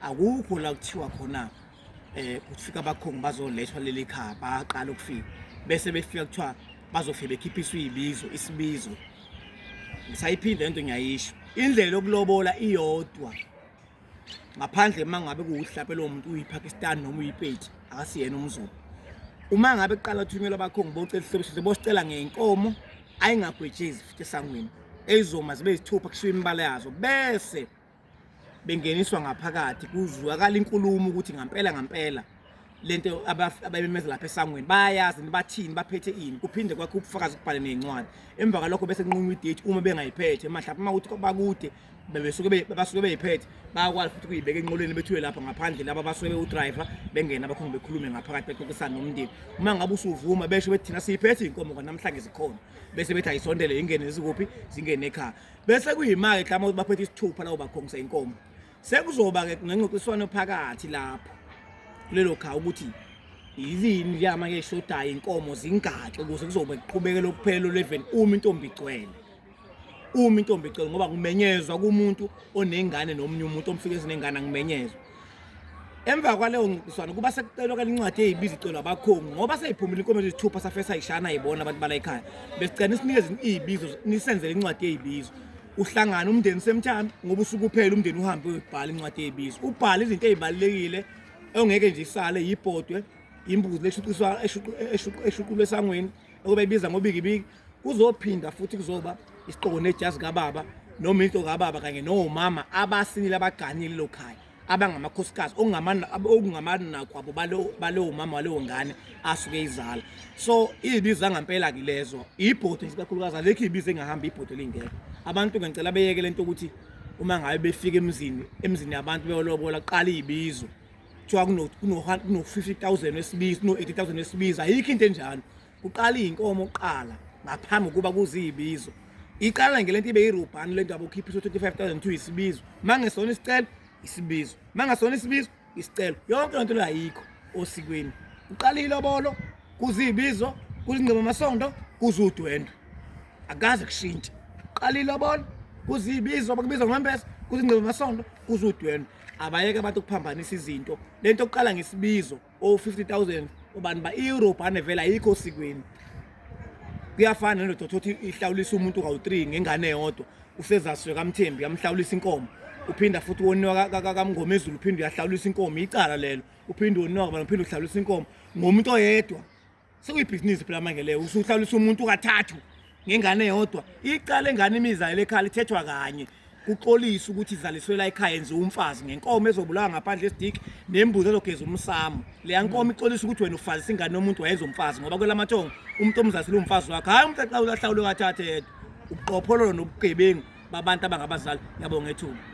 akukho la kuthiwa khona eh kufika abakhongi bazolethwa leli khaya baqala ukufika bese befika kuthiwa bazofike bekhiphiswa izibizo isibizo ngisayiphinde lento ngiyayisho indlela yokulobola iyodwa ngaphandle uma ngabe kuwuhlape lowo muntu uyiPakistan noma uyipeti akasiyena umzulu uma ngabe kuqala uthunyelwa abakhongi bocela ihlobisho bosicela ngeyinkomo ayingagwetshezi futhi esangweni eyizoma zibe yisithupha kushiwo imibala yazo bese bengeniswa ngaphakathi kuzwakala inkulumo ukuthi ngampela ngampela lento ababemeza lapha esangweni bayayazi bathini baphethe ini kuphinde kwakho ubufakazi kubhale nezincwadi emva kwalokho bese kunqunywa idate uma bengayiphethe mahlapha uma ukuthi bakude bebesuke basuke beyiphethe bayakwazi futhi kuyibeka enqolweni bethiwe lapha ngaphandle laba basuke bewudriver bengena abakhona bekhulume ngaphakathi bexoxisana nomndeni uma ngabe usuvuma besho bethi thina siyiphethe inkomo kwanamhlanje zikhona bese bethi ayisondele ingene zikuphi zingene ekhaya bese kuyima-ke ke uma baphethe isithupha lawo bakhongisa inkomo sekuzoba-ke nengxoxiswano phakathi lapho kulelo khawu ukuthi yilini liyama ke shodayo inkomo zingaxi ukuze kuzobe kuqhubeke lokuphela leveni uma intombi igcwele uma intombi igcwele ngoba kumenyezwa kumuntu onengane nomunye umuntu omfike esinengane angimenyezwa Emva kwaleyo ngqiswano kuba sekucelwa ke incwadi eyibiza icelwa abakhongi ngoba seyiphumile inkomezo isithupha safesa ayishana ayibona abantu bala ekhaya. Besicela nisinikeze izibizo nisenzele incwadi eyibizo. Uhlangana umndeni semthami ngoba usuku uphela umndeni uhambe uyobhala incwadi eyibizo. Ubhala izinto ezibalekile ongeke nje isale yibhodwe imbuzi leshuqiswa eshuqulwe esangweni okube ibiza ngobikibiki Kuzophinda futhi kuzoba isiqoko nejazi kababa noma into kababa kanye nomama abasinile abaganile lo khaya abangamakhosikazi okungamani nakwabo balowo mama walewo ngane asuke izala so iyibiza ngampela ke lezo ibhodo isikakhulukazi alekho ibize engahamba ibhodo lingekho abantu ngicela beyeke lento ukuthi uma ngabe befika emzini emzini yabantu beyolobola qala iyibizo kuthiwa kuno-50 000 wesibizi kuno-80 000 wesibizi ayikho into enjalo kuqala iy'nkomo kuqala ngaphambi kokuba kuziyibizo iqala nge lento ibe yirubhani lento yabo ukhipha iso 25000 kuthiwa isibizo uma ngesona isicelo isibizo uma ngesona isibizo isicelo yonke lento leyo ayikho osikweni kuqala ilobolo kuziyibizo kuzingcebo amasondo kuzudwendwe akaze kushintshe qala ilobolo kuziyibizo bakubiza ngombese kuzingcebo amasondo kuzudwendwe abayeke abantu ukuphambanisa izinto lento okuqala ngesibizo o 50000 ubani ba iEurope anevela ayikho sikweni kuyafana nento thothi ihlawulisa umuntu kawu3 ngengane yodwa usezaswe kamthembi yamhlawulisa inkomo uphinda futhi woniwa kamngomezulu uphinde uyahlawulisa inkomo icala lelo uphinde woniwa kabani uphinde uhlawulisa inkomo ngomuntu oyedwa sekuyibhizinisi phela manje leyo usuhlalisa umuntu kathathu ngengane yodwa iqale ngane imizalelo ekhala ithethwa kanye kuxolisa ukuthi izaliswela ekhaya enziwa umfazi ngenkomo ezobulawa ngaphandle esidiki nembuzi ezogeza umsamo leya nkomo ixolisa ukuthi wena ufazisa ingane yomuntu wayenza umfazi ngoba kwelamathongo umuntu omzalisela umfazi wakhe hhayi umuntu axa ulahlawulo kathathe yedwa ubuqophololo nobugebengu babantu abangabazali yabo ngethuba